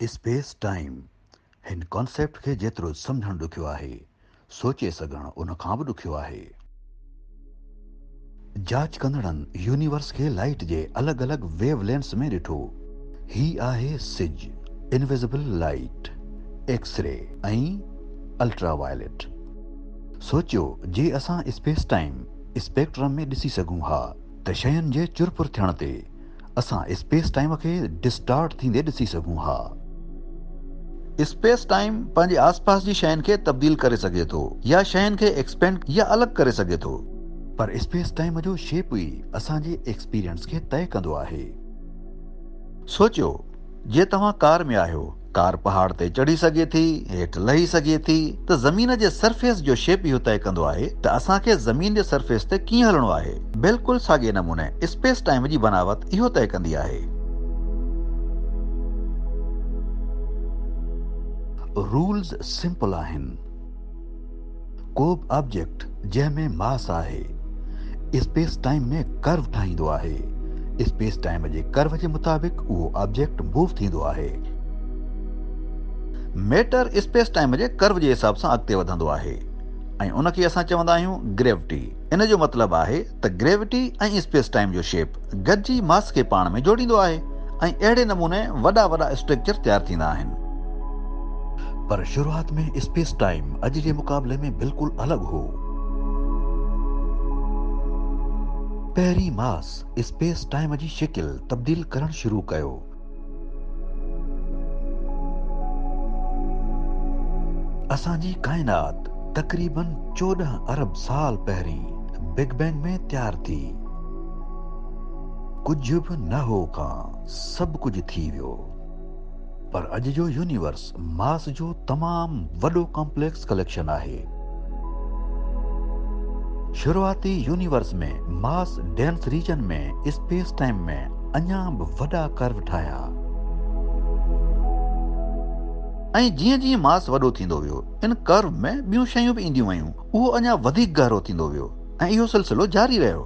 Space time, هن concept کي جيترو سمجهڻ ڏکيو آهي، سوچي سگهڻ ان کان به ڏکيو آهي. جاچ ڪندڙن يونيورس کي لائيٽ جي الڳ الڳ ويو لينس ۾ ڏٺو. هي آهي سج، invisible light, x ray ۽ ultraviolet. سوچيو جي اسان اسپيس ٽائيم اسپيڪٽرم ۾ ڏسي سگهون ها ته شين جي چرپر ٿيڻ تي اسان اسپيس ٽائيم کي ڊسٽارٽ ٿيندي ڏسي سگهون ها. اسپيس ٽائيم پنهنجي آس پاس جي شين کي تبديل ڪري سگهي ٿو يا شين کي ايڪسپينڊ يا الڳ ڪري سگهي ٿو. پر اسپيس ٽائيم جو شيپ ئي اسان جي ايڪسپيرينس کي طئي ڪندو آهي. سوچيو جي توهان ڪار ۾ آهيو. ڪار پهاڙ تي چڙهي سگهي ٿي، هيٺ لهي سگهي ٿي ته زمين جي سرفيس جو شيپ اهو طئي ڪندو آهي ته اسان کي زمين جي سرفيس تي ڪيئن هلڻو آهي. بلڪل ساڳئي نموني اسپيس ٽائيم جي بناوت اهو طئي ڪندي آهي. رولز سمپل آهن. ڪوبه آبجيڪٽ جنهن ۾ ماس آهي اسپيس ٽائيم ۾ ڪرو ٺاهيندو آهي. اسپيس ٽائيم جي ڪرو جي مطابق اهو آبجيڪٽ موو ٿيندو آهي. ميٽر اسپيس ٽائيم جي ڪرو جي حساب سان اڳتي وڌندو آهي ۽ ان کي اسان چوندا آهيون گريوٽي. ان جو مطلب آهي ته گريوٽي ۽ اسپيس ٽائيم جو شيپ گڏجي ماس کي پاڻ ۾ جوڙيندو آهي ۽ اهڙي نموني وڏا وڏا اسٽريڪچر تيار ٿيندا آهن. پر شروعات ۾ اسپيس ٽائيم اڄ جي مقابلي ۾ بلڪل الڳ هو. پهرين ماس اسپيس ٽائيم جي شڪل تبديل ڪرڻ شروع ڪيو. اسان جي ڪائنات تقريباً چوڏهن ارب سال پهرين بگ بينگ ۾ تيار ٿي. ڪجهه به نه هو کان سڀ ڪجهه ٿي ويو. پر اڄ جو يونيورس ماس جو تمام وڏو ڪامپليڪس ڪليڪشن آهي. شروعاتي universe ۾ mass dense region ۾ space time ۾ اڃا به وڏا ڪرو ٺاهيا. ۽ جيئن جيئن ماس وڏو ٿيندو ويو، ان ڪرو ۾ ٻيون شيون به اينديون ويون. اهو اڃا وڌيڪ گهرو ٿيندو ويو ۽ اهو سلسلو جاري رهيو.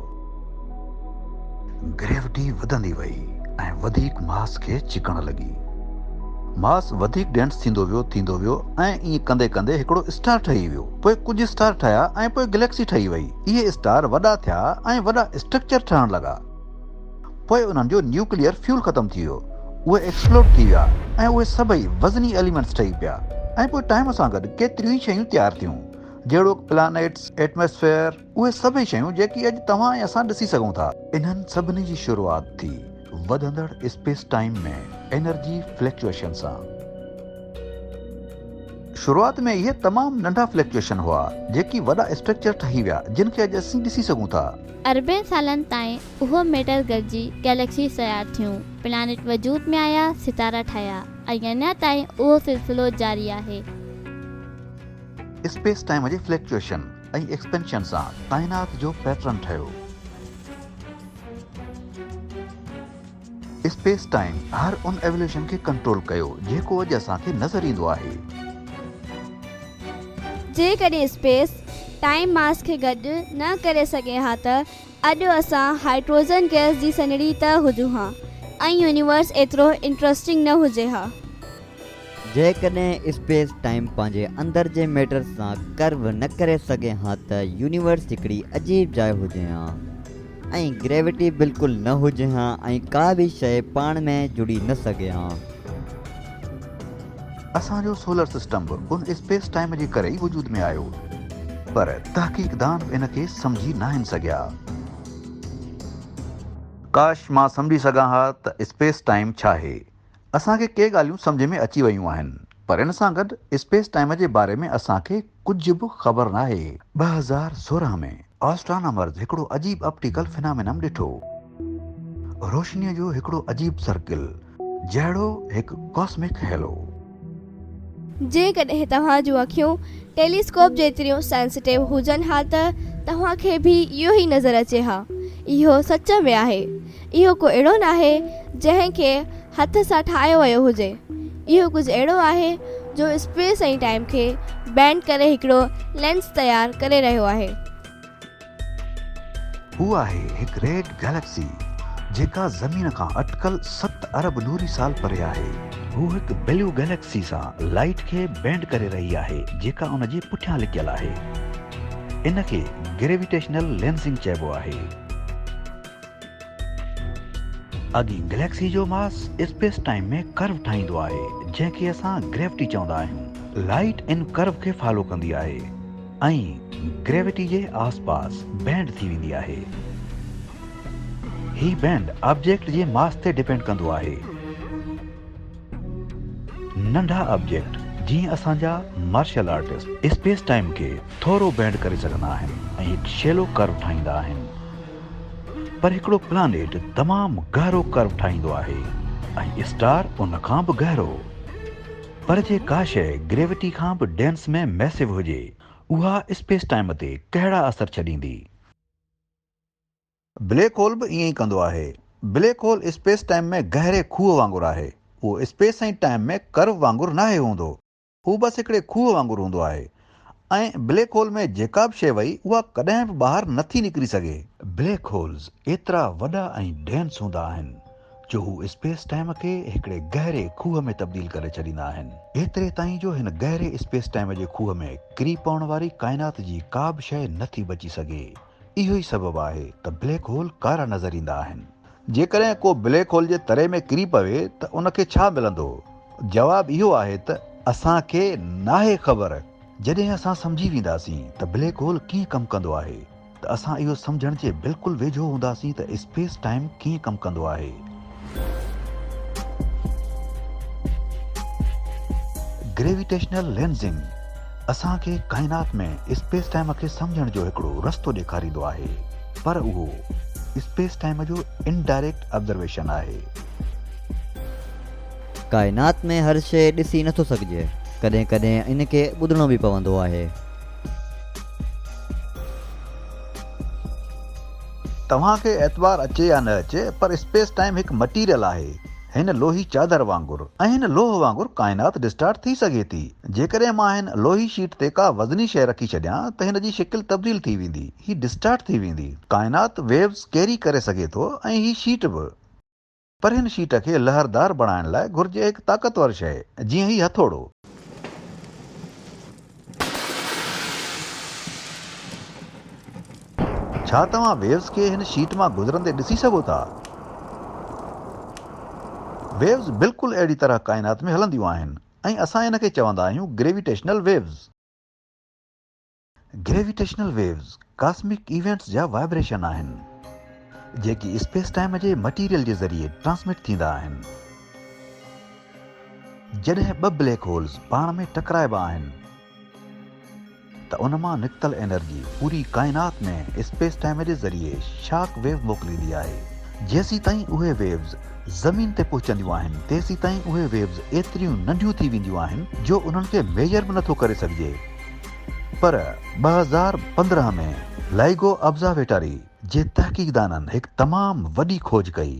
گريوٽي وڌندي وئي ۽ وڌيڪ ماس کي ڇڪڻ لڳي. ماس وڌيڪ ڊينس ٿيندو ويو ٿيندو ويو ۽ ائين ڪندي ڪندي هڪڙو اسٽار ٺهي ويو. پوء ڪجهه اسٽار ٺهيا ۽ پوء گليڪسي ٺهي وئي. اهي اسٽار وڏا ٿيا ۽ وڏا اسٽرڪچر ٺهڻ لڳا. پوء انهن جو نيوڪليئر فيول ختم ٿي ويو، اهي ايڪسپلوڊ ٿي ويا ۽ اهي سڀئي وزني ايليمينٽس ٺهي پيا ۽ پوء ٽائيم سان گڏ ڪيتريون ئي شيون تيار ٿيون، جهڙوڪ پلانيٽس، ايٽماسفيئر، اهي سڀئي شيون جيڪي اڄ توهان ۽ اسان ڏسي سگهون ٿا. انهن سڀني جي شروعات ٿي وڌندڙ اسپيس ٽائيم ۾ انرجي فليڪچوئيشن سان. شروعات ۾ اهي تمام ننڍا فليڪچوئيشن هئا جيڪي وڏا اسٽرڪچر ٺهي ويا جن کي اڄ اسين ڏسي سگهون ٿا. اربين سالن تائين اهو ميٽر گڏجي گئليڪسيز تيار ٿيون، پلانيٽ وجود ۾ آيا، ستارا ٺهيا ۽ اڃا تائين اهو سلسلو جاري آهي. اسپيس ٽائيم جي فليڪچوئيشن ۽ ايڪسپينشن سان ڪائنات جو پيٽرن ٺهيو. اسپيس ٽائيم هر ان ايوليوشن کي ڪنٽرول ڪيو جيڪو اڄ اسان کي نظر ايندو آهي. جيڪڏهن اسپيس ٽائيم ماس کي گڏ نه ڪري سگهي ها ته اڄ اسان هائڊروجن گئس جي سنهڙي ته هجون ها ۽ يونيورس ايترو انٽرسٽنگ نه هجي ها. جيڪڏهن اسپيس ٽائيم پنهنجي اندر جي ميٽر سان ڪرو نه ڪري سگهي ها ته يونيورس هڪڙي عجيب جاء هجي ها ۽ گريوٽي بلڪل نه هجي ها ۽ ڪا به شيء پاڻ ۾ جڙي نه سگهي ها. اسان جو سولر سسٽم به ان اسپيس ٽائيم جي ڪري ئي وجود ۾ آيو پر تحقيقدان به ان کي سمجهي ناهن سگهيا. ڪاش مان سمجهي سگهان ها ته اسپيس ٽائيم ڇا هي. اسان کي ڪي ڳالهيون سمجهه ۾ اچي ويون آهن پر ان سان گڏ اسپيس ٽائيم جي باري ۾ اسان کي ڪجهه به خبر ناهي. ٻه هزار سورهن ۾ آسٽرانامرز هڪڙو عجيب اپٽيڪل فنامينم ڏٺو. روشنيء جو هڪڙو عجيب سرڪل جهڙو هڪ ڪاسمڪ هيلو. جيڪڏهن توهان جون اکيون ٽيليسڪوپ جيتريون سينسٽيو هجن ها ته توهان کي به اهو ئي نظر اچي ها. اهو سچ ۾ آهي. اهو ڪو اهڙو ناهي جنهن کي هٿ سان ٺاهيو ويو هجي. اهو ڪجهه اهڙو آهي جو اسپيس ۽ ٽائيم کي بينڊ ڪري هڪڙو لينس تيار ڪري رهيو آهي. هو آهي هڪ ريڊ گئليڪسي، جيڪا زمين کان اٽڪل ست ارب نوري سال پري آهي. هو هڪ بليو گئليڪسي سان لائيٽ کي بينڊ ڪري رهي آهي، جيڪا ان جي پٺيان لڪيل آهي. ان کي گريويٽيشنل لينسنگ چئبو آهي. اڳين گئليڪسي جو ماس اسپيس ٽائيم ۾ ڪرو ٺاهيندو آهي، جنهن کي اسان گريوٽي چوندا آهيون. لائيٽ ان ڪرو کي فالو ڪندي آهي. ۽ گريوٽي جي آس پاس بينڊ ٿي ويندي آهي. هي بينڊ آبجيڪٽ جي ماس تي ڊپينڊ ڪندو آهي. ننڍا آبجيڪٽ جيئن اسان جا مارشل آرٽسٽ اسپيس ٽائيم کي ٿورو بينڊ ڪري سگهندا آهن ۽ هڪ شيلو ڪرو ٺاهيندا آهن. پر هڪڙو پلانيٽ تمام گهرو ڪرو ٺاهيندو آهي ۽ اسٽار ان کان به گهرو. پر جي ڪا شيء گريوٽي کان به ڊينس ۾ ميسو هجي، اها اسپيس ٽائيم تي ڪهڙا اثر ڇڏيندي؟ بليڪ هول به ائين ئي ڪندو آهي. بليڪ هول اسپيس ٽائيم ۾ گهري کوهه وانگر آهي. اهو اسپيس ۽ ٽائيم ۾ ڪرو وانگر ناهي هوندو. هو بس هڪڙي کوهه وانگر هوندو آهي. ۽ بليڪ هول ۾ جيڪا به شيء وئي اها ڪڏهن به ٻاهر نه ٿي نڪري سگهي. بليڪ هولز ايترا وڏا ۽ ڊينس هوندا آهن جو هو اسپيس ٽائيم کي هڪڙي گهري کوهه ۾ تبديل ڪري ڇڏيندا آهن. ايتري تائين جو هن گهري اسپيس ٽائيم جي کوهه ۾ ڪري پوڻ واري ڪائنات جي ڪا به شيء نه ٿي بچي سگهي. اهو ئي سبب آهي ته بليڪ هول ڪارا نظر ايندا آهن. جيڪڏهن ڪو بليڪ هول جي تري ۾ ڪري پوي ته ان کي ڇا ملندو؟ جواب اهو آهي ته اسان کي ناهي خبر. جڏهن اسان سمجهي وينداسين ته بليڪ هول ڪيئن ڪم ڪندو آهي ته اسان اهو سمجهڻ جي بلڪل ويجهو هونداسين ته اسپيس ٽائيم ڪيئن ڪم ڪندو آهي. گريويٽيشنل لينزنگ اسان کي ڪائنات ۾ اسپيس ٽائيم کي سمجهڻ جو هڪڙو رستو ڏيکاريندو آهي پر اهو اسپيس ٽائيم جو انڊائريڪٽ آبزرويشن آهي. ڪائنات ۾ هر شيء ڏسي نه ٿو سگهجي، ڪڏهن ڪڏهن ان کي ٻڌڻو به پوندو آهي. توهان کي اعتبار اچي يا نه اچي پر اسپيس ٽائيم هڪ مٽيريل آهي هن لوهي چادر وانگر ۽ هن لوهه وانگر ڪائنات ڊسٽارٽ ٿي سگهي ٿي. جيڪڏهن مان هن لوهي شيٽ تي ڪا وزني شيء رکي ڇڏيان ته هن جي شڪل تبديل ٿي ويندي. هي ڊسٽارٽ ٿي ويندي. ڪائنات ويوز ڪيري ڪري سگهي ٿو ۽ هي شيٽ به. پر هن شيٽ کي لهردار بڻائڻ لاء گهرجي هڪ طاقتور شيء، جيئن هي هٿوڙو. ڇا توهان ويوز کي هن شيٽ مان گذرندي ڏسي سگهو ٿا؟ ويوز بلڪل اهڙي طرح ڪائنات ۾ هلنديون آهن ۽ اسان ان کي چوندا آهيون gravitational waves. Gravitational waves cosmic events جا وائبريشن آهن جيڪي اسپيس ٽائيم جي مٽيريل جي ذريعي ٽرانسمٽ ٿيندا آهن. جڏهن ٻه بليڪ هولز پاڻ ۾ ٽڪرائبا آهن ته ان مان نڪتل انرجي پوري ڪائنات ۾ اسپيس ٽائيم جي ذريعي شاڪ ويو موڪليندي آهي. جيسيتائين اهي ويوز زمين تي پهچنديون آهن تيسيتائين اهي ويوز ايتريون ننڍيون ٿي وينديون آهن جو انهن کي ميجر به نٿو ڪري سگهجي پر ٻه هزار پندرهن ۾ لائيگو ابزاويٽاري جي تحقيقدانن هڪ تمام وڏي کوج ڪئي.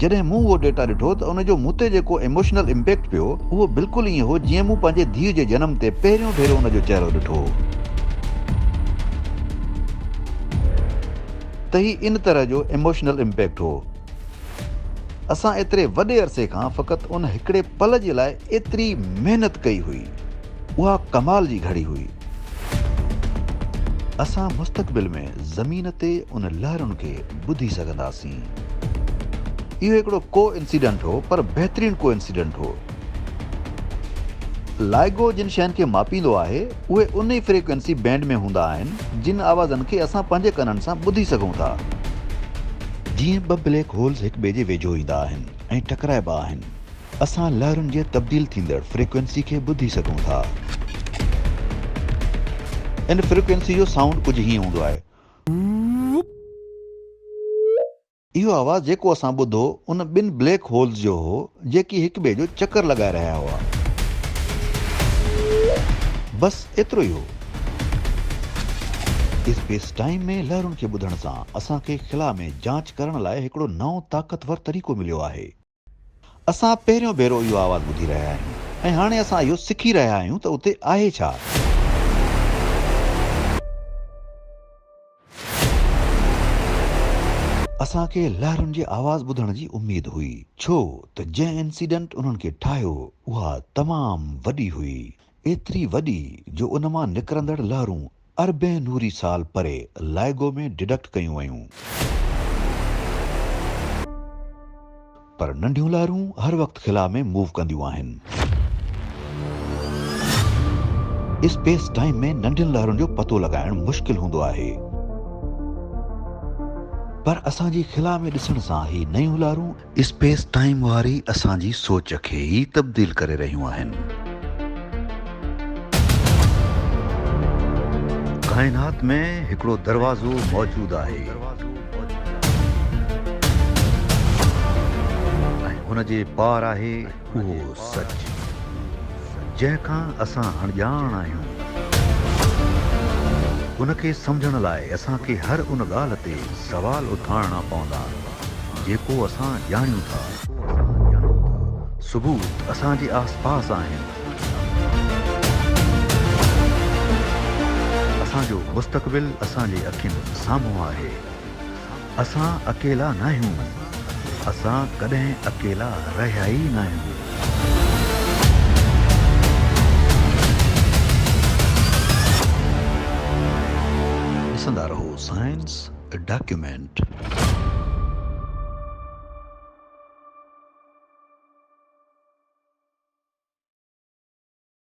جڏهن مون اهو ڊيٽا ڏٺو ته ان جو مون تي جيڪو ايموشنل امپيڪٽ پيو اهو بلڪل ائين هو جيئن مون پنهنجي ڌيء جي جنم تي پهريون ڀيرو ان جو چهرو ڏٺو هو ته هي ان طرح جو ايموشنل امپيڪٽ هو. اسان ايتري وڏي عرصي کان فقط ان هڪڙي پل جي لاء ايتري محنت ڪئي هئي. اها ڪمال جي گهڙي هئي. اسان مستقبل ۾ زمين تي ان لهرن کي ٻڌي سگهنداسين. اهو هڪڙو ڪو انسيڊنٽ هو پر بهترين ڪو انسيڊنٽ هو. لائگو جن شين کي ماپيندو آهي اهي ان ئي فريڪوئنسي بينڊ ۾ هوندا آهن جن آوازن کي اسان پنهنجي ڪنن سان ٻڌي سگهون ٿا. جيئن ٻه بليڪ هولز هڪٻئي جي ويجهو ايندا آهن ۽ ٽڪرائبا آهن، اسان لهرن جي تبديل ٿيندڙ فريڪوئنسي کي ٻڌي سگهون ٿا. ان فريڪوئنسي جو سائونڊ ڪجهه هيئن هوندو آهي. اهو آواز جيڪو اسان ٻڌو ان ٻن بليڪ هولز جو هو جيڪي هڪ ٻئي جو چڪر لڳائي رهيا هئا. بس ايترو ئي هو. اسپيس ٽائيم ۾ لهرن کي ٻڌڻ سان اسان کي خلا ۾ جاچ ڪرڻ لاء هڪڙو نئون طاقتور طريقو مليو آهي. اسان پهريون ڀيرو اهو آواز ٻڌي رهيا آهيون ۽ هاڻي اسان اهو سکي رهيا آهيون ته اتي آهي ڇا؟ اسان کي لهرن جي آواز ٻڌڻ جي اميد هئي ڇو ته جنهن انسيڊنٽ انهن کي ٺاهيو اها تمام وڏي هئي. ايتري وڏي جو ان مان نڪرندڙ لهرون اربين نوري سال پري لائگو ۾ ڊيڊڪٽ ڪيون ويون. پر ننڍيون لهرون هر وقت خلا ۾ موو ڪنديون آهن. اسپيس ٽائيم ۾ ننڍين لهرن جو پتو لڳائڻ مشڪل هوندو آهي. پر اسان جي خلا ۾ ڏسڻ سان هي نيون لهرون اسپيس ٽائيم واري اسان جي سوچ کي ئي تبديل ڪري رهيون آهن. ڪائنات ۾ هڪڙو دروازو موجود آهي ۽ ان جي پار آهي. اهو سچ، جنهن کان اسان اڻڄاڻ آهيون، ان کي سمجهڻ لاء اسان کي هر ان ڳالهه تي سوال اٿارڻا پوندا، جيڪو اسان ڄاڻيون ٿا. ثبوت اسان جي آسپاس آهن. اسان جو مستقبل اسان جي اکين سامهون آهي. اسان اڪيلا ناهيون. اسان ڪڏهن اڪيلا رهيا ئي ناهيون. ڏسندا رهو سائنس ڊاڪيومينٽ.